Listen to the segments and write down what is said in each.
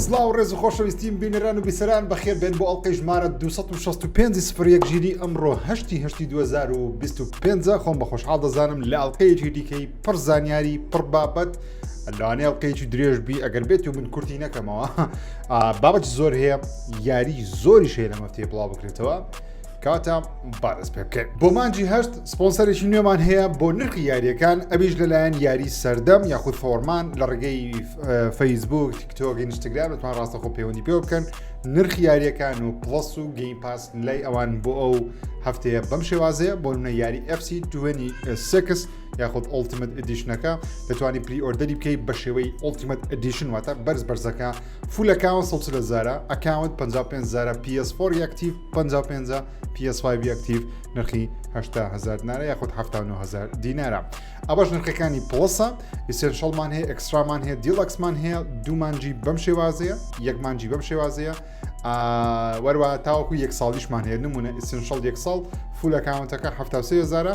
سلااو ڕێز خۆشەویستیم بینەران و بیسەران بەخێر بێن بۆ ئەڵلقەی ژمارە 265 سفرەک ژیری ئەمڕۆ هەشتی هەشتی 2025 خۆم بە خۆشحاڵ دەزانم لە ئەڵلقەیەکی دیکەی پڕ زانیاری پڕ بابەت لەوانێ ئەڵلقەیەکی درێژبی ئەگەر بێت و من کورتی نەکەمەوە بابەت زۆر هەیە یاری زۆری شێ لەمەفتێ بڵاو بکرێتەوە. کاتە بارز پێ بکەین بۆ مانجی هەشت سپۆنسەرێکی نوێمان هەیە بۆ نرخی یاریەکان ئەویش لەلایەن یاری سەردەم یاخود فۆرمان لە ڕگەی فەیسبوک تیکتۆک ئینستاگرام دەتوان ڕاستەخۆ پەیوەندی پێ بکەن نرخی یاریەکان و پڵس و گەیم پاس لای ئەوان بۆ ئەو هەفتەیە بەم شێوازەیە بۆ منە یاری FC 26 یاخود ئۆلتیمت ئەدیشنەکە دەتوانانی پری ئۆردەری بکەیت بە شێوەی ئۆلتیمت ئەدیشن واتە بەرز بەرزەکە فول ئەکاونت سەد و چل هەزارە ئەکاونت پەنجا و پێنج هەزارە پی ئێس فۆر ئەکتیڤ پەنجا و پێنجە پی ئێس فایڤ ئەکتیڤ نرخی هەشتا هەزار دینارە یاخود حەفتا و نۆ هەزار دینارە ئەوەش نرخەکانی پڵەسە ئیسێنشەڵمان هەیە ئەکسترامان هەیە دیڵەکسمان هەیە دوو مانجی بەم شێوازەیە یەک مانجی بەم شێوازەیە وەروە تاوەکو یەک ساڵیشمان هەیە نمونە ئیسنشەڵ یەک ساڵ فولەکانەکە هەفتاسی هزارە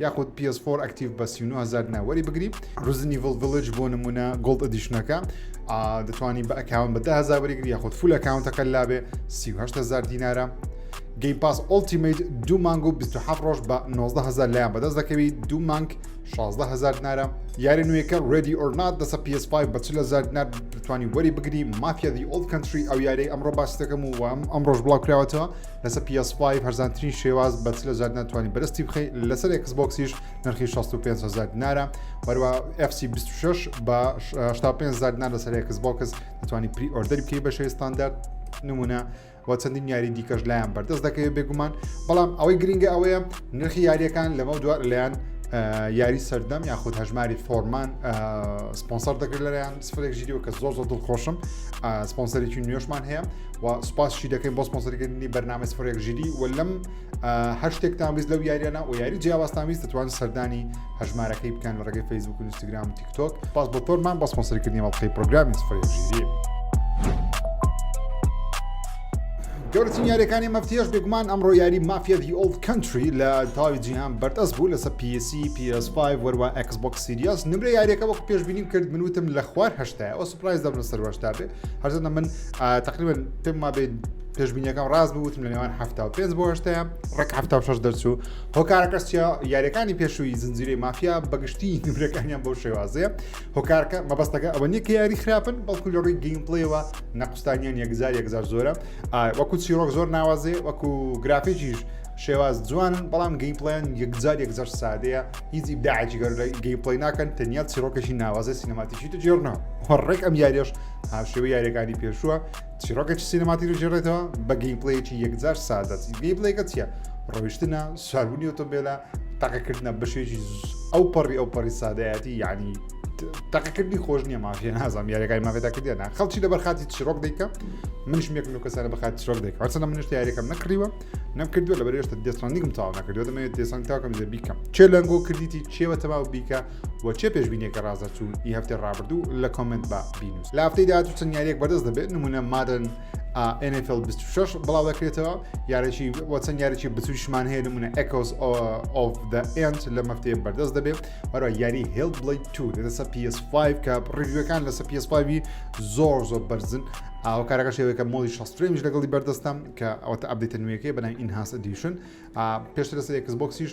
یاخود پی ئێس فۆر ئەکتیڤ بە سی و نۆ هەزار دینار وەری بگری ڕزن ئیڤڵ ڤیلج بۆ نمونە گۆڵد ئەدیشنەکە ئا دەتوانی بە ئەکاون بە ده هەزار وەریگری یاخود فول ئەکاونتەکە لابێ سی و هەشت هەزار دینارە گەیم پاس ئۆڵتیمیت دوو مانگ و 27 ڕۆژ بە 19 هزار لایان بەدەست دەکەوی دوو مانگ 16 هزار دینارە یاری نوێیەکە ڕێدی ئۆرنات دەسە PS5 بە 40 هزار دینار بتوانی وەری بگری مافیا دی ئۆڵد کەنتری ئەو یاری ئەمڕۆ باسی دەکەم و وام ئەمڕۆژ بڵاوکراوەتەوە لەسەر PS5 هەرزانترین شێواز بە 40000 دینار توانی بەرستی بخەی لەسەر ئەکسبۆکسیش نرخی 65000 دینارە وەروە FC 26 بە 65000 دینار لەسەر ئەکسبۆکس دەتوانانی پری ئۆردەری بکەی بە شێوی ستاندارد نمونە و چەندین یاری دیکەش لایەن بەردەست دەکەوێت بێگومان بەڵام ئەوەی گرنگە ئەوەیە نرخی یاریەکان لەمە دووار لەیان یاری سەردەم یاخود هەژماری فۆرمان سپۆنسەر دەکرد لەلایەن سفرێک ژیریەوە کە زۆر زۆر دڵخۆشم سپۆنسەرێکی نوێشمان هەیە و سپاس شی دەکەین بۆ سپۆنسەرکردنی بەرنامە سفرێک ژیدی و لەم هەشتێکتان ویست لەو یاریانە و یاری جیاوازتان ویست دەتوان سەردانی هەژمارەکەی بکەن لە ڕێگەی فەیسبوک و ئینستاگرام و تیکتۆک پاس بۆ تۆرمان بە سپۆنسەرکردنی مەڵقەی پرۆگرامی سفرێک ژیری. گەورترین یاریەکانی مەفتیش بێگومان ئەمڕۆ یاری مافیا دی ئۆلد کەنتری لە تاوی جیهان بەردەس بوو لەسە پیسی PS5 وەروە ئەکسبک سیریاس نمرە یاریەکە وەک پێشببینیم کرد منوتم لە خوار هشتایەوە سپرایز دەبن سەروەشتا بێ هەرزەنە من تقریبن پێم ما بین پێشبینیەکەم ڕاست بوو وتم لە نێوان هەفتا و پێنج بۆ هەشتەیە ڕێک هەفتا و شەش دەرچوو هۆکارەکەس چیا یاریەکانی پێشووی زنجیرەی مافیا بەگشتی نمرەکانیان بۆ شێوازەیە هۆکارکە مەبەستەکە ئەوە نیە کە یاری خراپن بەڵکو لە ڕووی گەیمپلەیەوە نەقستانیان یەکجار یەکجار زۆرە وەکو چیرۆک زۆر ناوازێ وەکو گرافێکیش شێواز جوانن بەڵام گەیمپلیان یەکجار یەکجار سادەیە هیچ ئیبداعی گەر گەیمپلی ناکەن تەنیا چیرۆکەشی ناوازە سینەماتیشی دەجێڕنەوە هەڕێک ئەم یاریش هاوشێوەی یاریەکانی پێشووە چیرۆکێکی سینەماتی دەژێڕێتەوە بە گەیمپلەیەکی یەکجار سادە گەیمپلەیەکە چیە ڕۆیشتنە سواربوونی ئۆتۆمبیلە تاقەکردە بەشێکی ئەو پەڕی ئەو پەڕی سادەیەتی یعنی تاقەکردنی خۆش نییە مافیە نازانام یاریەکانی مافێدا کردیانە خەڵکی لە بەرخاتی چیرۆک دەیکە منش مێک لە کەسانە بەخات چیرۆک دەیکە چەنە منش یاریەکەم نەکڕیوە نەکردووە لە بەرێشتە دێساننیکم تاوا نەکردووە دەمەوێت دێسان تاکەم لە بیکەم چێ لەنگۆ کردیتی چێوە تەواو بیکە بۆ چیە پێشبینیەکە ڕازەرچوون ی هەفتەی ڕابردوو لە کۆمێنت با بینوس لە هەفتەی داهاتوو چەند یاریەک بەدەست دەبێت نمونە مادن NFL 26 بڵاو دەکرێتەوە یارێکی بۆ چەند یاریی بچوشمان هەیە نمونە ئەکۆس ئۆف دە ئەند لە مەفتەیە بەردەست دەبێت بەرە یاری هێڵ بڵی تو لەسە PS5 کە ڕیوەکان لەسە PS5 زۆر زۆر بەرزن ئەو کارەکە شێوەکە مۆلی شسترێنج لەگەڵی بەردەستم کە ئەوتە ئەبدیتە نوێەکەی بەنای ئینهاس ئەدیشن پێشتر لەسەر یەکس بۆکسیش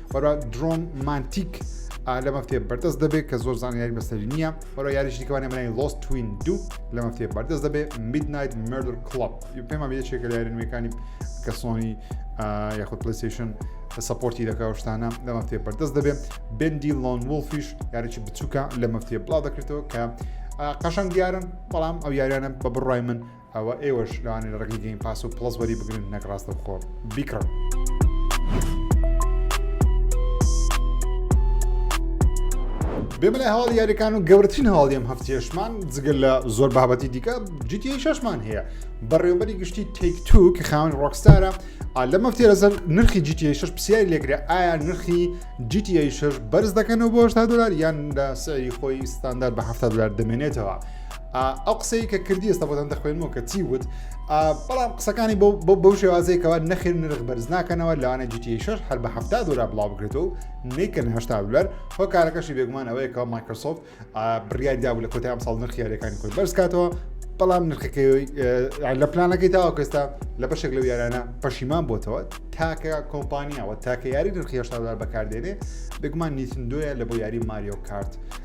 وەرە درۆن مانتیک لە مەفتێ بەردەست دەبێت کە زۆر زانیاری بەسەری نییە وەرە یاریش دیکەوانە منای لۆست توین دوو لە مەفتێ بەردەست دەبێت میدنایت مردر کلب پێما بێچێکە لە یاری نوێەکانی کە سۆنی یاخود پلیسیشن سپۆرتی دەکەشتانە لە مەفتێ بەردەست دەبێت بندی لۆن وڵفیش یاریی بچووکە لە مەفتێ بڵاو دەکرێتەوە کە قەشەنگ دیارن بەڵام ئەو یاریانە بە بڕای من ئەوە ئێوەش لەوانەیە لە ڕێگەی گەیم پاس و پڵەس وەری بگرن نەک ڕاستەوخۆ بیکڕن. بێمە لە هەواڵ یاریەکان و گەورترین هەواڵی ئەم هەفتێشمان جگەل لە زۆر بابەتی دیکە جیتی شەشمان هەیە بەڕێوبەری گشتی تێک تو کە خاون ڕۆکستارە لە مەفتێ لەسەر نرخی جیتی شش پرسیاری لێکرێ ئایا نرخی جیتی شش بەرز دەکەنەوە بۆ هشتا دلار یان لە سەری خۆی ستاندار بە هەفتا دلار دەمێنێتەوە. ئا ئەو قسەی کە کردی ئێستا بۆتان دەخوێنمەوە کە چی وت بەڵام قسەکانی بۆ بۆ بەو شێوازەیە کەوا نەخێر نرخ بەرز ناکەنەوە لەوانە جیتیش هەر بە هەفتا دلار بڵاو بکرێتەوە نیکەن هشتا دلار هۆکارەکەشی بێگومان ئەوەیە کەەوە مایکرۆسۆفت بڕیاری دابوو لە کۆتای ئەمساڵ نرخ یاریەکانی خۆی بەرز کاتەوە بەڵام نرخەکەی لە پلانەکەی تاوە کەستا لە بەشێک لەو یارانە پەشیمان بۆتەوە تاکە کۆمپانیاوە تاکە یاری نرخی هشتا دلار بەکاردێنێ بگومان نیسندۆیە لە بۆ یاری ماریۆ کارت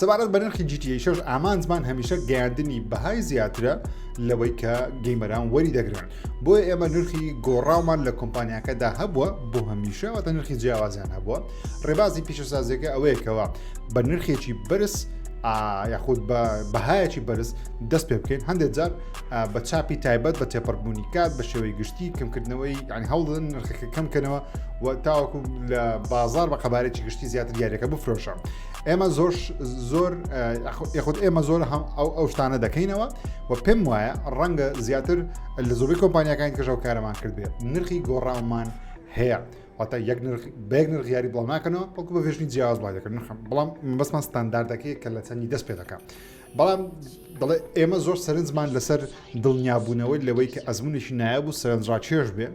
سەبارەت بە نرخی GTA شش ئامانجمان هەمیشە گەیاندنی بەهای زیاترە لەوەی کە گەیمەران وەری دەگرن بۆیە ئێمە نرخی گۆڕاومان لە کۆمپانیاکەدا هەبووە بۆ هەمیشە واتە نرخی جیاوازیان هەبووە ڕێبازی پیشەسازیەکە ئەوەیەکەوە بە نرخێکی بەرز یاخود بە بەهایەکی بەرز دەست پێ بکەین هەندێک جار بە چاپی تایبەت بە تێپەربوونی کات بە شێوەی گشتی کەمکردنەوەی یعنی هەوڵدن نرخەکە کەمکەنەوە و تاوەکو لە بازار بە قەبارێکی گشتی زیاتر دیارەکە بفرۆشە ئێمە زۆر زۆر یخود ئێمە زۆر هەم ئەو ئەو شتانە دەکەینەوە و پێم وایە ڕەنگە زیاتر لە زۆری کۆمپانیەکان کەژەو کارەمان کرد بێت نرخی گۆڕاومان هەیە واتە یەک بەێک نرخیاری بڵاو ناکەنەوە بەڵکو بە ڤژنی جیاواز بڵای دەکەن نرخم بەڵام بەسمان ستانداردەکەی کە لە چەندی دەست پێ دەکە بەڵام دەڵێ ئێمە زۆر سەرنجمان لەسەر دڵنیابوونەوەی لەوەی کە ئەزمونێکی نایە بوو سەرنجڕاکێش بێ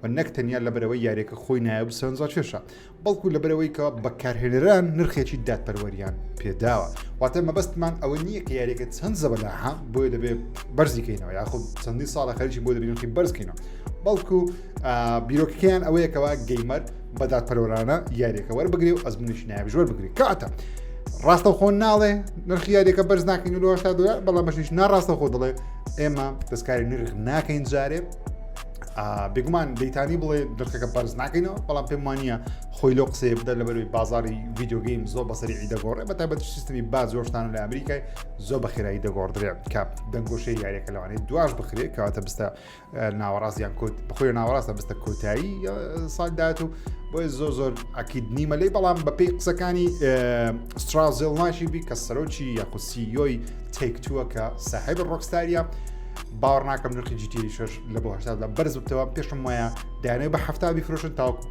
و نەک تەنیا لەبەرەوەی یاریەکە خۆی نایە بسەنجا کێشە بەڵکو لەبەرەوەی کە بەکارهێنەران نرخێکی دادپەروەریان پێداوە واتە مەبەستمان ئەوە نییە کە یاریەکە چەند زەبەلاها بۆیە دەبێت بەرزیکەینەوە یاخود چەندی ساڵە خەرکی بۆ دەبینەکەی بەرزکەینەوە بەڵکو بیرۆکەکەیان ئەوەیە کەوا گەیمەر بەدات پەرۆرانە یاریەکە وەربگری و ئەزمونیش نایە بژوەر بگری کاتە ڕاستە خۆ ناڵێ نرخی یاریەکە بەرز ناکەین لەهشتا دلار بەڵام بەشیش ناڕاستە خۆ دەڵێ ئێمە دەستکاری نرخ ناکەین جارێ بێگومان دەیتانی بڵێ درخەکە بەرز ناکەینەوە بەڵام پێم وانە خۆی لۆ قسەیە بدە لەبەروی بازاری ویددیوگەیم زۆر بەسەری ئیدەگۆڕێ بە تابەت سیستمی با زۆرشتان لە ئەمریکای زۆر بە خێرایی دەگۆڕدرێ کاپ دەنگۆشەی یاریەکە لەوانێ دواش بخرێ کەواتە بستە ناوەڕاستیان کۆت بخۆی ناوەڕاستە بستە کۆتایی سال داات و بۆی زۆر زۆر ئەکیید نیمە لی بەڵام بەپی قسەکانی سترازل ناشی بی کە سەرۆکی یاخسیۆی تێکتووە کە ساحب ڕۆکستاریە باوەڕ ناکەم نرخی جیتی شش لە بۆ هەشتادا بەرز بتەوە پێشم وایە دایانەوە بە هەفتا بیفرۆشن تاوەکو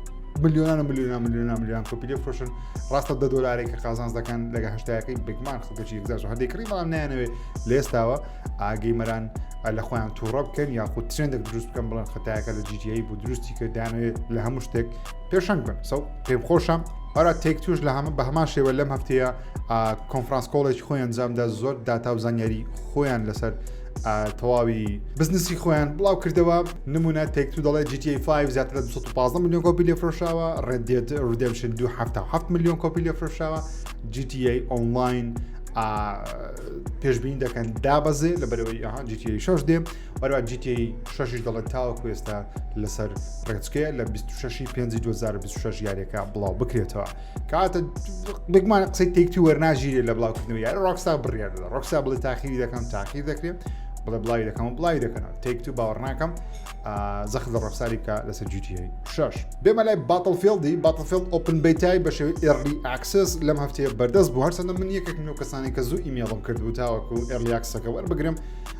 ملیۆنان ملیۆنا ملیۆنا ملیۆن کۆپیلی فرۆشن ڕاستە دە دلارێک کە قازانز دەکەن لەگە هشتایەکەی بگمان خەڵکەی یەکجار هەندی کڕی بەڵام نایانەوێ لێستاوە ئاگەی مەران لە خۆیان تووڕە بکەن یاخود ترندێک دروست بکەم بڵێن خەتایەکە لە جیجایی بۆ دروستی کردانوێت لە هەموو شتێک پێشنگ بن سەو پێم خۆشم ئەرا تێک توش لە هەمە بە هەمان شێوە لەم هەفتەیە کۆنفرانس کۆڵێکی خۆیان جامدا زۆر داتا و زانیاری خۆیان لەسەر تەواوی بزنسی خۆیان بڵاو کردەوە نمونە تێک تو دەڵێت GTA 5 زیاتر لە 215 میلیۆن کۆپی لێ فرۆشاوە ڕێدێت ردێمشن 277 میلیۆن کۆپی لێ فرۆشاوە GTA ئۆنلاین پێشبین دەکەن دابەزێ لە بەرەوەی ئەها GTA 6 دێ بەروا GTA 6 دەڵێت تاوە کوێستا لەسەر ڕێچکەیە لە 26 پێ 2026 یاریەکە بڵاو بکرێتەوە. کاتە بگمان قسەی تێکتی وەرناژیرێت لە بڵاوکردنەوە یار ڕۆکستا بڕیار دەدا ڕۆکسا بڵێ تاخیری دەکەم تاخیر دەکرێت بڵێ بڵاوی دەکەم و بڵاوی دەکەنەوە تێک تو باوەڕناکەم زەخت لە ڕۆکساری بکە لەسەر جوتی شش بێمە لای باتڵفێڵدی باتڵفێڵد ئۆپن بیتای بە شێوی ئێرلی ئاکسس لەم هەفتەیە بەردەست بوو هەرچەندە من یەکێک من و کەسانی کە زوو ئیمێڵم کردبوو تاوەکو ئێرلیاکسەکە وەربگرم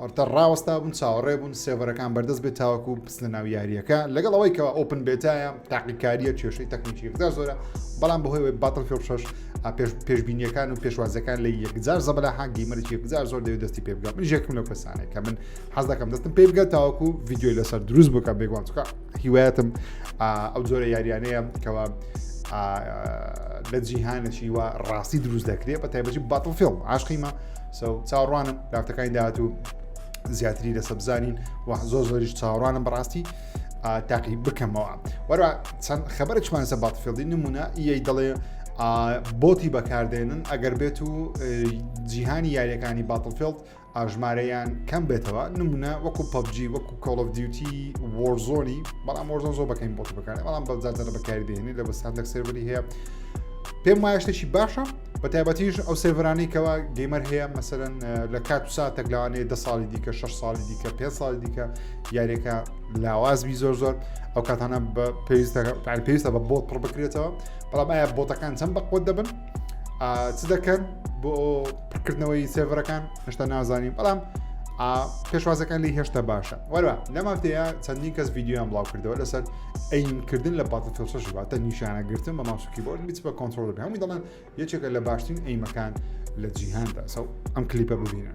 ئارتەر ڕاوەستابوون چاوەڕێ بوون سێڤەرەکان بەردەست بێت تاوەکو بچنە ناو یاریەکە لەگەڵ ئەوەی کەەوە ئۆپن بێتایە تاقیکاریە کێشەی تەکنیکی یەکجار زۆرە بەڵام بەهۆی باتڵ فێڵ شش پێش پێشبینیەکان و پێشوازەکان لە یەکجار زەبلا حەگی مەرج یەکجار زۆر دەوێت دەستی پێ بگە من یەکم لە کەسانێ کە من حەز دەکەم دەستم پێ بگە تاوەکو ڤیددیۆی لەسەر دروست بکە بێگوان چکە هیوایەتم ئەو زۆرە یاریانەیە کەەوە لە جیهانەشی وە ڕاستی دروست دەکرێت بە تایبەتی باتڵ فێڵ عاشقیمە سەو چاوڕوانم کارتەکانی داهاتوو زیاتری لەسە بزانین و زۆر زۆریش چاوڕانم بەڕاستی تاقی بکەمەوە وەرە چەند خەبەرچمان سە باتفێڵدی نمونە ی دەڵێ بۆتی بەکاردێنن ئەگەر بێت و جیهانی یاریەکانی باتڵفێڵد ئاژمارەیان کەم بێتەوە نمونە وەکو پبجی وەکو کۆڵف دیوتی وۆرزۆنی بەڵام وەرزۆن زۆر بەکەین بۆتی بەکار بەڵام بەزارە بەکاردێنی لە بەسان دەک سێبری هەیە پێم وایشتێکی باشە بە تایبەتیش ئەو سێڤرانەی کەوا گەیمەر هەیە مەسەرەن لە کات و ساتێک لەوانەیە ده ساڵی دیکە 6 ساڵی دیکە پێ ساڵی دیکە یاریەکە لاوازبی زۆر زۆر ئەو کاتانە بە پێویستە پێویستە بە بۆت پڕ بکرێتەوە بەڵام ئایا بۆتەکان چەند بەقوت دەبن چ دەکەن بۆ پڕکردنەوەی سێڤەرەکان هشتا نازانین بەڵام پێشوازەکان لی هێشتا باشە وەرە لەمافتەیە چەندین کەس یددیویان بڵاو کردەوە لەسەر ئەینکردن لە پاتە تۆسەش واتە نیشانە گرتن بە ماوس کیبۆرد بیت بە کۆنتترۆل بێ هەمووی دەڵێن یەکێکە لە باشترین ئەیمەکان لە جیهاندا سەو ئەم کلیپە ببینە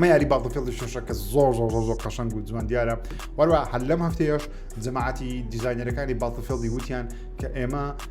ئەمە یاری باڵدفێڵی شەشە کە زۆر زۆر زۆر قەشنگ و جوان دیارە وەروە هەر لەم هەفتەیەش جەماعەتی دیزینەرەکانی باڵتفێڵی وتیان کە ئێمە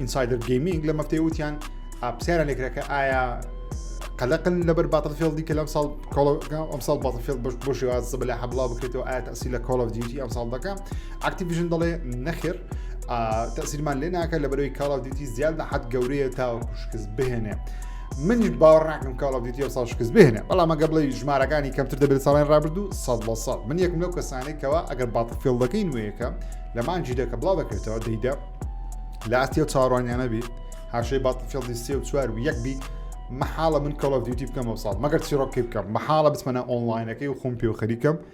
ئینسایدر گەیمینگ لە مەفتەی وتیان پرسیارە لێکرەکە ئایا قەلقن لەبەر باتەفێڵدی کە لەم ساڵ ئەمساڵ باتەفێڵ بەش بۆ شێواز زە بەلا حەبڵاو بکرێتەوە ئایا تاسی لە کۆڵ دیتی ئەم ساڵ دەکە ئاکتیڤژن دەڵێ نەخێر تەسیرمان لێ ناکە لە بەرەوەی کاڵاو دیتی زیاد لە حەت گەورەیە تاوە پشکست بهێنێ. منیش باوەڕ ناکەم کاڵ ئۆف دیوتی ئەمساڵ شکست بهێنێ بەڵام ئەگەر بڵێ ژمارەکانی کەمتر دەبێت ساڵی ڕابردوو سەد لە سەد من یەکم لەو کەسانێک کەەوە ئەگەر باتڵفێڵدەکەی نوێیەکە لە مانجی دەکە بڵاو دەکرێتەوە دەیدا لە ئاستی و چاڕوانیانە بی هاشەی باتڵفێڵدی سێ و چوار و یەک بی محاڵە من کەڵ ئۆف دیوتی بکەم ئەو ساڵ مەگەر چیڕۆکی بکەم محاڵە بچمەە ئۆنلاینەکەی و خۆم پێ و خەریکەم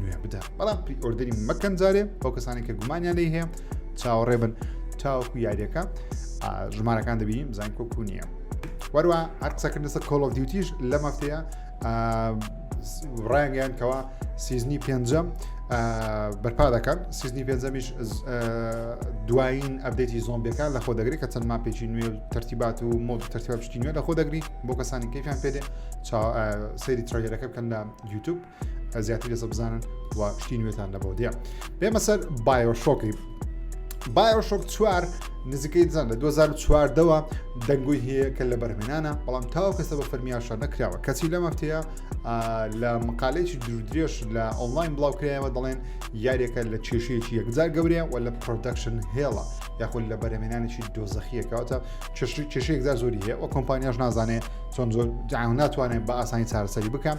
نوێ بدە بەڵام پری ئۆردەری مەکەن جارێ بۆ کەسانی کە گومانیان لی هەیە چاوەڕێ بن تاوەکو یاریەکە ژمارەکان دەبینیم زان کۆکو نییە وەروە هەر قسەکردن لەسەر کۆڵ ئۆف دیوتیش لە مەفتەیە ڕایانگەیان کەەوە سیزنی پێنجەم بەرپا دەکەن سیزنی پێنجەمیش دوایین ئەبدەیتی زۆمبیەکان لە خۆ دەگری کە چەند ماپێکی نوێ و ترتیبات و مۆ ترتیبا پشتی نوێ لە خۆ دەگری بۆ کەسانی کەفیان پێێ سری ترۆگەرەکە بکەن لە یوتوب زیاتر لێسە بزانن و شتی نوێتان لە بەودێ بێمە سەر بایۆشۆکی بایۆشۆک چوار نزیکەی دزان لە 2014ەوە دەنگۆی هەیە کە لە بەرمێنانە بەڵام تاو کەسە بە فەرمیاشە نەکراوە کەچی لە مەفتەیە لە مقالەیەکی درودرێژ لە ئۆنلاین بڵاوکرایەوە دەڵێن یاریەکە لە کێشەیەکی یەکجار گەورەیە و لە پرۆدەکشن هێڵە یاخود لە بەرەمێنانێکی دۆزەخیەکەوتە کێشەیەکدا زۆری هەیە و کۆمپانیاش نازانێت چۆن زۆر جیان ناتوانێت بە ئاسانی چارەسەری بکەم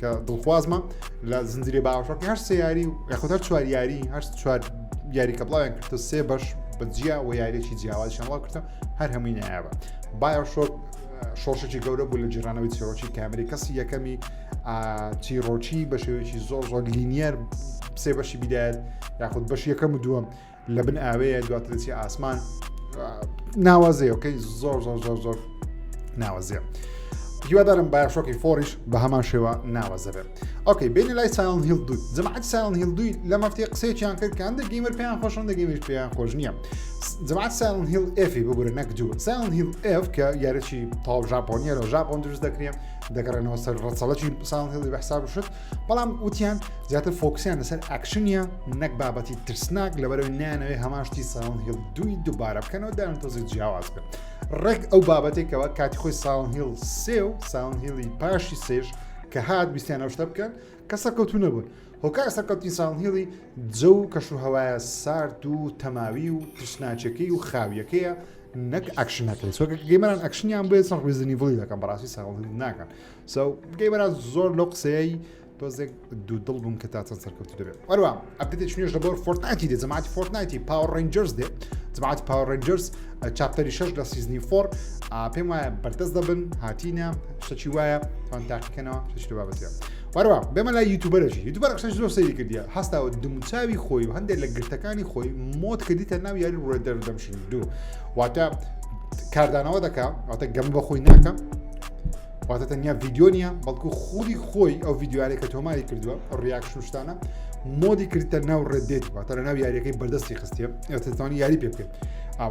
کە دڵخوازمە لە زنجری باوەڕۆک هەر سێ یاری و یاخود هەر چوار یاری هەر چوار یاری کە بڵاویان کردە سێ بەش بە جیا و یاریێکی جیاوازیان بڵاو کردە هەر هەمووی نایابە بایۆشۆک شۆشێکی گەورە بوو لە جیرانەوەی چیرۆکی کامری کەسی یەکەمی چیرۆکی بە شێوەیەکی زۆر زۆر لینیەر سێ بەشی بدایەت یاخود بەش یەکەم و دووەم لە بن ئاوێ دواتر دەچی ئاسمان ناوازەیەکەی زۆر زۆر زۆر زۆر ناوازەیە. هیوادارم باشۆکی فۆریش بە هەمان شێوە ناوەزەبێت ئۆکەی بینە لای سایڵن هیل دوو جماعەت سایڵن هیل دوی لە مەفتی قسێکیان کرد کە هەندێک گەیمەر پێیان خۆشن دەگەیمش پێیان خۆش نییە جماعەت سایڵن هیل ئفی ببورە نەک دوو سایڵن هیل ئف کە یارەی تاو ژاپۆنیە لە ژاپۆن دروست دەکرێن دەگەڕێنەوە سەر ڕەچەڵەکی سایڵن هیلی بەحساب شت بەڵام وتیان زیاتر فۆکسیان لەسەر ئەکشنە نەک بابەتی ترسناک لەبەرەوەی نانەوەی هەماشتی ساون هیل دوی دووبارە بکەنەوە دایان تۆزی جیاواز بن ڕێک ئەو بابەتێکەوە کاتی خۆی ساون هیل سێ و ساون هیلی پاشی سێش کە هات بیستیان ئەو شتە بکەن کە سەرکەوتو نەبوون هۆکار سەرکەوتی ساون هیلی جە و کەش و هەوایە سارد و تەماوی و ترسناچەکەی و خاویەکەیە نەک ئەکشنەکەی سۆکە گەیمەران ئەکشنیان بێت سەر ڕویزنی بڵی دەکەم بەڕاستی ساڵ ناکەن سو بکەی بەراز زۆر لەو قسەیەی تۆزێک دوودڵ بووم کە تا چەند سەرکەوتو دەبێت ئەروە ئەپدێت شوێش لە بۆر فۆرتناتی دێ جەماعەتی فۆرتناتی پاوە ڕنجەرز دێ جەماعەتی پاوە ڕنجەرز چاپتەری شەش لە سیزنی فۆر پێم وایە بەردەست دەبن هاتینە شەچی وایە تان تاقیکەنەوە شتو بابەتە وەروە بێمە لای یوتوبەرەشی یوتوبەر قسەش زۆر سەیری کردیە هەستاوە دموچاوی خۆی و هەندێک لە گرتەکانی خۆی مۆت کردیتە ناو یاری ڕێدەر دەمشن دوو واتە کاردانەوە دەکە واتە گەم بە خۆی ناکەم واتە تەنیا ڤیددیو نیە بەڵکو خودی خۆی ئەو ڤیددیوارێک کە تۆماری کردووە ڕیاکشتانە مۆدی کردتە ناو ڕێدێت واتە لە ناو یاریەکەی بەردەستی خستە ئەتوانی یاری پێ بکەیت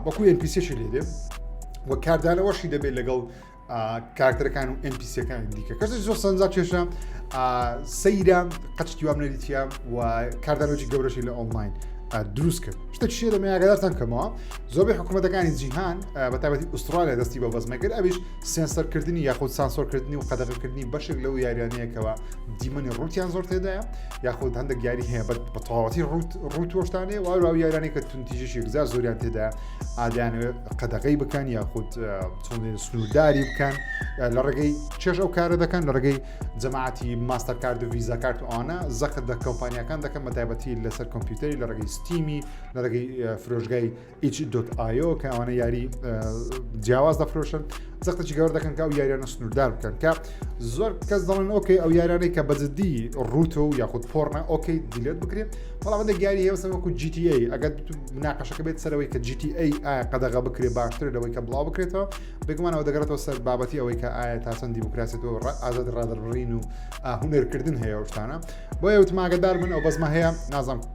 وەکو NPCشی لێدێ و کاردانەوەشی دەبێت لەگەڵ کارکتەرەکان و NPCەکان دیکە کەس زۆر سەنجا کێشە سەیرە قەچکی وام نەریتە و کاردانۆجی گەورەشی لە ئۆنلاین دروست کرد شتە شێ دەمەیاگەدارتان کەمەوە زۆربەی حکوومەتەکانی جیهان بە تابەتی ئوسترالیا دەستی بە بەزمەکرد ئەویش سێنسەرکردنی یاخود سانسۆرکردنی و قەدەغەکردنی بەشێک لەو یاریانەیەکەوە دیمەنی ڕوتیان زۆر تێدایە یاخود هەندێک یاری هەیە بە تەواتی ڕوت ڕوتۆشتانێ واراو یارانی کە تونتیژش یەکزار زۆریان تێدا ئادانەوە قەدەغی بکەن یاخود چۆن سنوورداری بکەن لە ڕێگەی چێش ئەو کارە دەکەن لە ڕێگەی جەماعەتی ماستەر کارد و ویزا کارت ئەوانە زەخت دە کۆمپانیەکان دەکەن بە تایبەتی لەسەر کۆمپیوتەری لە ڕێگەی ستیمی لە ڕێگەی فرۆژگای ئیچ.ئایۆ کە ئەوانە یاری جیاواز دەفرۆشن زەختەی گەور دەکەن کە ئەو یاریانە سنووردار بکەن کە زۆر کەس دەڵێن ئۆکەی ئەو یارانەی کە بەجددی ڕوتە و یاخود پۆڕنە ئۆکەی دیلێت بکرێت بەڵامەندە گیاری هێوسە وەکو GTA ئەگەر ناقەشەکە بێت سەرەوەی کە GTA ئایا قەدەغە بکرێ باشتر لەوەی کە بڵاو بکرێتەوە بێگومانەوە دەگەڕێتەوە سەر بابەتی ئەوەی کە ئایا تاسەن دیموکراسێت و ئازاد ڕادرڕین و هونەرکردن هەیە شتانە بۆیە وتماگەدار من ئەو بەزمە هەیە نازم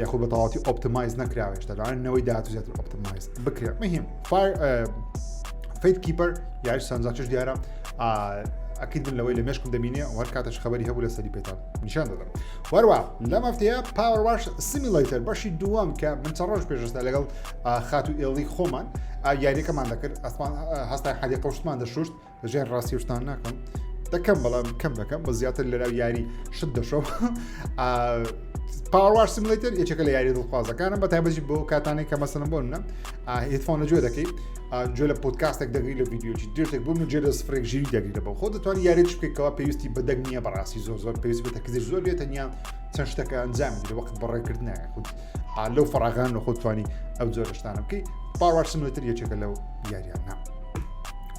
یاخود بە تەواتی ئۆپتمایز نەکراوێشتا داوای نەوەی داهاتوو زیاتر ئۆپتمایز بکرێت مهم فایر فیت کیپەر یاش سانزاچش دیارە ئەکیت من لەوەی لە مێشکم دەبینێ وەر کاتەش خبری هەبوو لە سەری پێتان نیشان دەدەم وەروە لەم هەفتەیە پاوەڕواش سیمیلەیتەر بەشی دووەم کە من چە ڕۆژ پێشستا لەگەڵ خات و ئێڵی خۆمان یاریەکەمان دەکرد ئەسمان هەستا حەدی قوشتمان دەشوشت ژێن ڕاستی شتان ناکەم دەکەم بەڵام کەم دەکەم بە زیاتر لەرا یاری شت دەشەوە پاوار سیملتر یەکێکە لە یاری دڵخوازەکانم بە تایبەتی بۆ کاتانێک کە مەسەن بۆ نە هیتفۆنە جوێ دەکەیت جوێ لە پۆتکاستێک دەگری لە ویددیوی درێتێک بووم جێ لە سفرێک ژیری دەگری لە بۆ خۆ دەتوان یاری بکەیتەوە پێویستی بەدەنگ نییە بەڕاستی زۆر زۆر پێویست بێتە کزی زۆر بێت تەنیا چەند شتەکە ئەنجام لە وەخت بەڕێکردنە خود لەو فراغان لە خۆتوانی ئەو جۆرشتانە بکەیت پاوار سیملتر یەکێکە لەو یاریانە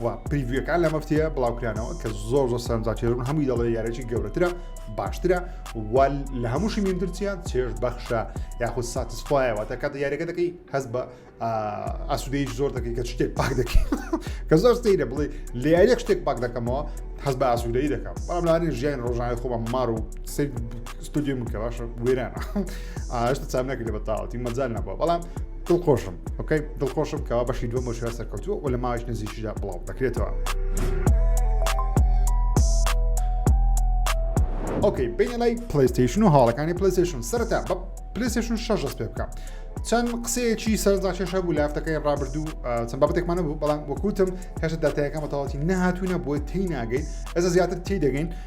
و پریڤەکان لە مەفتەیە بڵاوکرانەوە کە زۆر زۆر سەرنجاچێرون هەمووی دەڵێ یارێکی گەورەترە باشترە وال لە هەمووشی میندرچیان چێش بەخشە یاخود ساتسفایەوە تا کاتە یاریەکە دەکەی هەز بە ئاسوودەی زۆر دەکەی کە شتێک پاک دەکەی کە زۆر سەیرە بڵێ لە یاریەک شتێک پاک دەکەمەوە هەز بە ئاسوودەی دەکەم بەڵام لانی ژیان ڕۆژانانی خۆمان مار و سەر ستودیۆ من کە باشە وێرانە ئاشتە چام نەکرد بە تاوەتی مەجال نەبووە بەڵام دڵخۆشم ئۆکەی دڵخۆشم کەوا بەشی دووەم بۆ شوێن سەرکەوتووە و لە ماوەیش نزیکیدا بڵاو دەکرێتەوە. ئۆکەی بینە لای پلیستیشن و هاڵەکانی پلیستیشن سەرەتا بە پلیستیشن شەش دەست پێ بکە. چەند قسەیەکی سەردا کێشە بوو لافتەکەی ڕابردوو چەند بابەتێکمانە بوو بەڵام وەکوتم هێشتا داتایەکە بەتەواتی نەهاتوونە بۆی تی ناگەین ئێستا زیاتر تی دەگەین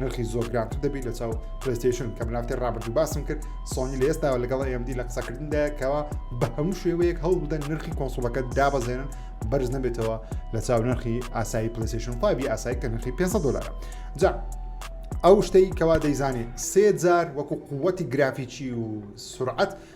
نرخی زۆر گرانتر دەبی لە چاو پرستیشن کە منافتی ڕابردوو باسم کرد سۆنی لە ئێستاوە لەگەڵ ئەمD لە قسەکردندا کەەوە بە هەموو شێوەیەک هەوڵ بدەن نرخی کۆنسوڵەکە دابەزێنن بەرز نەبێتەوە لە چاو نرخی ئاسایی پلیسیشن پابی ئاسایی کە نرخی 500 دلار جا ئەو شتەی کەوا دەیزانێت سێ جار وەکو قوتی گرافیکی و سرعەت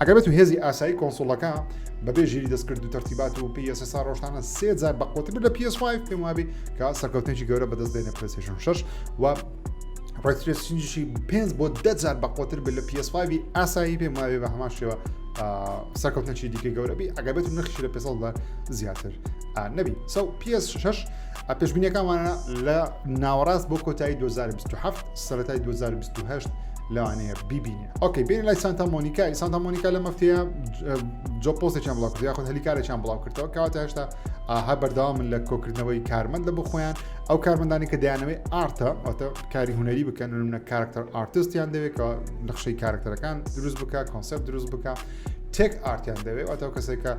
ئەگەر بێتو هێزی ئاسایی کۆنسوڵەکە بەبێ ژیری دەستکرد و تەرتیبات و پێ ئێستا ڕۆژانە سێ جار بەقوتر لە PS5 پێم وابی کە سەرکەوتنێکی گەورە بەدەست دێنە پرسێشن شش و ڕێترێسینجیشی پێنج بۆ دە جار بەقوتر بێت لە PS5 ئاسایی پێم وابێ بە هەمان شێوە سەرکەوتنەکی دیکە گەورەبی ئەگەبێت و نەخشی لە پێ زیاتر نەبی سەو PS شش پێشبینیەکانوانە لە ناوەڕاست بۆ کۆتایی 2027 سەتای 2028 لەوانەیە بیبین ئۆکەی بین لای سانتا مۆنیکای سانتا مۆنیکا لە مەفتەیە جۆ پۆستێکیان بڵاو کرد خۆن هەلیکارێکیان بڵاو کردەوە کاواتە هێشتا ئاها بەرداوا من لە کۆکردنەوەی کارمەند لە بخۆیان ئەو کارمەندانی کە دەیانەوەی ئارتە ئەوتە کاری هوەری بکەن منە کارکتەر ئارتستیان دەوێتەوە نەخشەی کارکتەرەکان دروست بکە کۆنسپت دروست بکە تێک ئارتیان دەوێت ئەتەو کەسێکە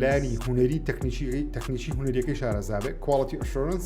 لانی هوەری تەکنیکی تەکنیکی هوەریەکەی شارەزابێت کوالڵەتی ئەشۆرنس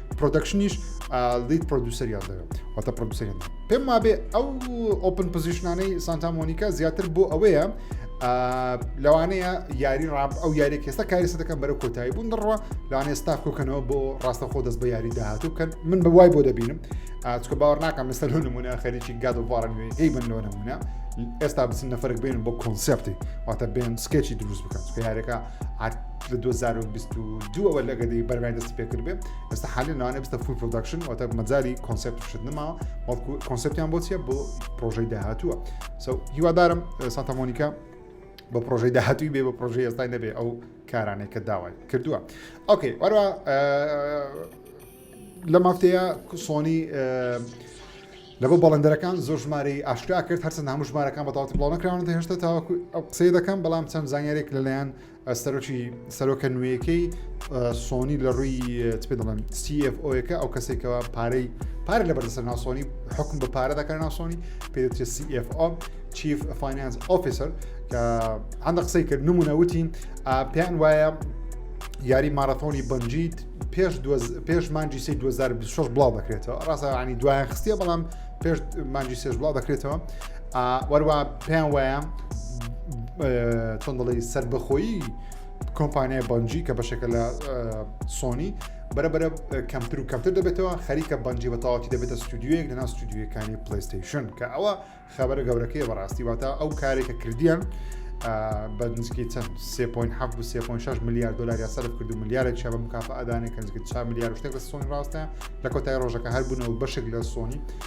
پرۆدەکشنیش لیت پرۆدوسەریان دەوێت واتە پرۆدوسەریان پێم وابێ ئەو ئۆپن پزیشنانەی سانتامۆنیکا زیاتر بۆ ئەوەیە لەوانەیە یاری ڕاب ئەو یاری کێستا کاری سەدەکەم بەرە کۆتایی بوون دڕوە لەوانێ ستاف کۆکەنەوە بۆ ڕاستە خۆ دەست بە یاری داهاتوو بکەن من بە وای بۆ دەبینم ئاچکە باوەڕ ناکەم مستەر لۆ نمونە خەریکی گاد و بارن وێ هی من لۆ نمونە ئێستا بچن نەفرک بێن بۆ کۆنسپتی واتە بێن سکێچی دروست بکەن یارەکە لە دوو هەزار و بیست و دووەوە لە گەدەی بەرگای دەستی پێکرد بێ ئێستا حالی ناوانە بستە فول پرۆداکشن واتە مەجاری کۆنسپت شت نماوە بەڵکو کۆنسپتیان بۆ چیە بۆ پرۆژەی داهاتووە سو هیوادارم سانتا مۆنیکا بە پرۆژەی داهاتووی بێ بە پرۆژەی ئێستای نەبێ ئەو کارانەی کە داوای کردووە ئۆکەی وەرە لە مافتەیە سۆنی لەبە بەڵندەرەکان زۆر ژماری ئاشکرا کرد هەرچەند هەموو ژمارەکان بە تاواتی بڵاو نکراون هێشتا تاوەکو ئەو قسەی دەکەم بەڵام چەند زانیارێک لەلایەن سەرۆکی سەرۆکە نوێیەکەی سۆنی لە ڕووی پێ دەڵێن CFۆەکە ئەو کەسێکەوە پارەی پار لە بەرسەر ناسۆنی حکم بە پارە دەکار ناسۆنی پێدەێت CFO چیف فینانس ئۆفیسەر کە هەندە قسەی کرد نمونە وتی پێیان وایە یاری مارەتۆنی بنجیت پێش پێش مانجی سی 2026 بڵاو دەکرێتەوە ڕاستەوانی دوایان خستە بەڵام پێش مانجی سێش بڵاو دەکرێتەوە وەروا پێیان وایە چۆن دەڵی سربەخۆیی کۆمپانیای بەنجی کە بەشێکە لە سۆنی بەرەبەرە کەمتر و کەمتر دەبێتەوە خەریکە بەنجی بە تەواتی دەبێتە ستودیوەیەک لەنا ستودیوەکانی پلیستیشن کە ئەوە خەبەر گەورەکەی بەڕاستی واتە ئەو کارێکە کردیان بە نزیکی چەند 3.7 میلیارد دلار یا سەرف کرد و میلیارێک شە بە مکافە ئەدانێک کە نزیکە چا میلیارد شتێک لە سۆنی ڕاستە لە کۆتای ڕۆژەکە هەر بوونەوە بەشێک لە سۆنی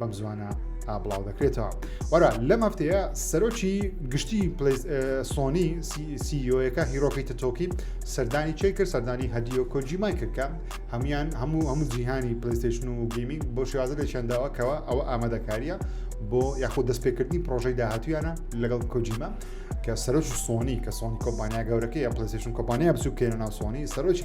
بەم زوانە بڵاو دەکرێتەوە وەرا لەم هەفتەیە سەرۆکی گشتی سۆنی سیۆەکە هیرۆکی تۆکی سەردانی چێ کرد سەردانی هەدیۆ کۆجیمای کردکە هەموان هەموو هەموو جیهانی پلیستشن و گیمینگ بۆ شێوازە لەچەنداوەکەوە ئەوە ئامادەکاریە بۆ یاخود دەستپێکردنی پرۆژەی داهاتویانە لەگەڵ کۆجیمە کە سەرۆکی سۆنی کە سۆنی کۆمپانیا گەورەکەی ئەپلیسیشن کۆمپانیا بچووکێنە ناو سۆنی سەرۆکی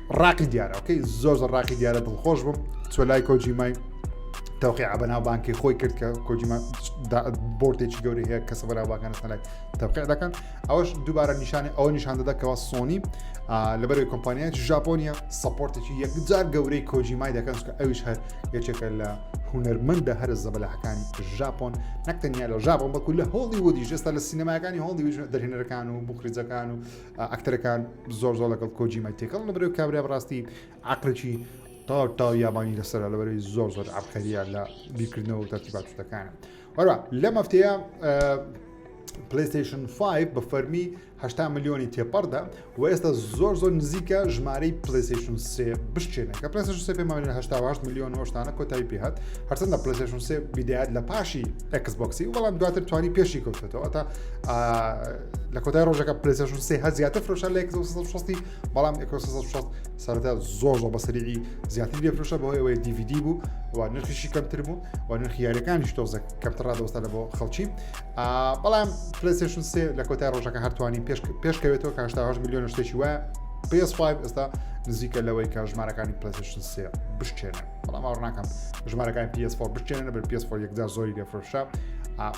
ڕاقی دیارە ئۆکەی زۆر زۆر ڕاقی دیارە دڵخۆش بم چۆ لای کۆجیمای تەوقی عبەناو بانکی خۆی کرد کە کۆجیما بۆرتێکی گەوری هەیە کەسە بەرا باگانستان لای تەوقع دەکەن ئەوش دووبارە نیشانی ئەوە نیشان دەدەکەەوە سۆنی لەبەروی کۆمپانیایەت ژاپۆنیە سپۆرتێکی یەکجار گەورەی کۆجیمای دەکەن کە ئەوش هەر یەکێکە لە هونەرمەندە هەرە زەبەلاحەکانی ژاپۆن نەکتەنیا لە ژاپۆن بەکو لە هۆڵی وەدی ژێستا لە سینەماکانی هۆڵی دەرهێنەرەکان و بخریجەکان و ئەکتەرەکان زۆر زۆر لەگەڵ کۆجیمای تێکەڵ لە بەرەوەی کابرا بڕاستی عقلێکی تاو تاو یابانی لەسەر لە بەرەوەی زۆر زۆر عبقەریە لە بیرکردنەوە و تەرتیبات شتەکانە وەرا لە مەفتەیە پلیستیشن 5 بە فەرمی 8 میلیۆنی تێپەڕدا و ئێستا زۆر زۆر نزیکە ژمارەی پلیستیشن سێ بشتێنە کە پلیستیشن سێ پێمانە 8 میلیۆن هۆشتانە کۆتایی پێهات هەرچەندە پلیستیشن سێ بیدات لە پاشی ئەکسبکسی بەڵام دواتر توانی پێشی کەوتێتەوە تا لە کۆتای ڕۆژەکە پلسشن سێ هە زیاتر فرۆشە لە 1660 بەڵام 1660 سەرتا زۆر زۆر بەسەری زیاتری لێ فرۆشە بۆ ئەوەی DVD بوو و نرخیشی کەمتر بوو و نرخ یاریەکانیش تۆزە کەمتر ڕادۆستە لە بۆ خەڵکی بەڵام پلسشن سێ لە کۆتای ڕۆژەکە هەرتوانی پێش پێشکەوێتەوە کاشتا هەش میلیۆن شتێکی وایە PS5 ئێستا نزیکە لەوەی کە ژمارەکانی پلسشن سێ بشتێنە بەڵام ئەوڕناکەم ژمارەکان PS4 بشتێنە بەر PS4 یەکدا زۆری لێفرشە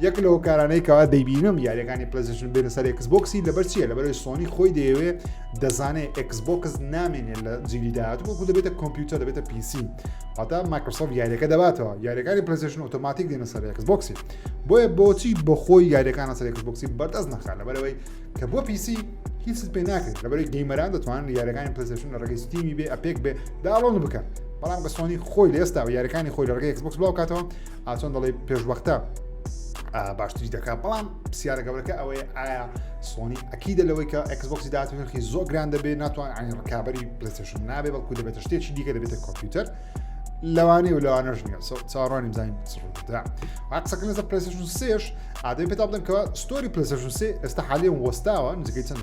یەک لە هۆکارانەی کەوا دەیبینم یاریەکانی پلزیشن بێنە سەر ئەکس بۆکسی لەبەر چیە لەبەرەوەی سۆنی خۆی دەیەوێ دەزانێت ئەکس بۆکس نامێنێت لە جیلی داات وەکو دەبێتە کۆمپیوتەر دەبێتە پیسی پاتا مایکرۆسۆف یاریەکە دەباتەوە یاریەکانی پلزیشن ئۆتۆماتیک دێنە سەر ئەکس بۆکسی بۆیە بۆچی بەخۆی یاریەکانە سەر ئەکس بۆکسی بەردەست نخان لەبەرەوەی کە بۆ پیسی هیچ پێ ناکرێت لەبەری گەیمەران دەتوانن یاریەکانی پلزیشن لە ڕگەی ستیمی بێ ئەپێک بێ داڵۆن بکەن بەڵام بە سۆنی خۆی لێستا و یاریەکانی خۆی لە ڕگەی ئەکس بۆکس بڵاو کاتەوە ئاچۆن دەڵێ پێشوەختە باشتری دەکات بەڵام پرسیارە گەورەکە ئەوەیە ئایا سۆنی ئەکیدە لەوەی کە ئەکسبکسی داات نرخی زۆ گران دەبێت ناتوان ئەنی ڕکابی پلسشن نابێ بەڵکو دەبێتە شتێکی دیکە دەبێتە کۆمپیوتەر لەوانەیە و لەوانەش نیە چاڕانی بزانین چڕدا قسەکە لەسەر پلسشن سێش ئادەی پێتا بڵێن کە ستۆری پلسشن سێ ئێستا حالیان وەستاوە نزیکەی چەند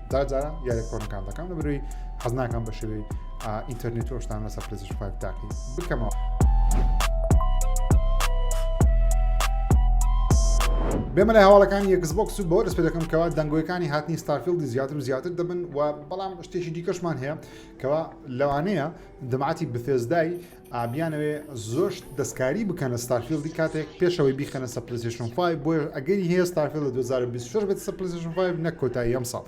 دا جاران یارە کۆنەکان دەکەم لە بروی حەزناکان بە شێوەی ئینتەرنێت و شتان لەسەر پلێزش پاک داقی بکەمەوە. بێمە لە هەواڵەکانی یەکسبکس و بۆ دەست پێ دەکەم کەوا دەنگۆیەکانی هاتنی ستارفیلدی زیاتر و زیاتر دەبن و بەڵام شتێکی دیکەشمان هەیە کەوا لەوانەیە دەماتی بثێزدای ئا بیانەوێ زۆر شت دەستکاری بکەنە ستارفیلدی کاتێک پێشەوەی بیخەنە سە پلیسشن 5 بۆیە ئەگەری هەیە ستارفیل لە 2026 بێت سە پلیسشن 5 نەک کۆتایی ئەم ساڵ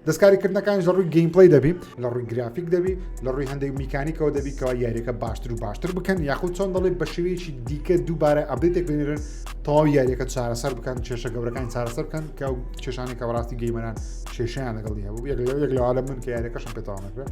دەستکاریکردنەکانی لە ڕووی گەیم پلی دەبی لە ڕووی گرافیک دەبی لە ڕووی هەندێک میکانیکەوە دەبی کەوا یاریەکە باشتر و باشتر بکەن یاخود چۆن دەڵێ بە شێوەیەکی دیکە دووبارە ئەبێتێک بنێرن تەواو یاریەکە چارەسەر بکەن کێشە گەورەکان چارەسەر بکەن کە کێشانێکە بەڕاستی گەیمەران کێشیان لەگەڵی هەبوو یەک لەوە یەک لەوە لە من کە یاریەکەشم پێتەوانەکرێت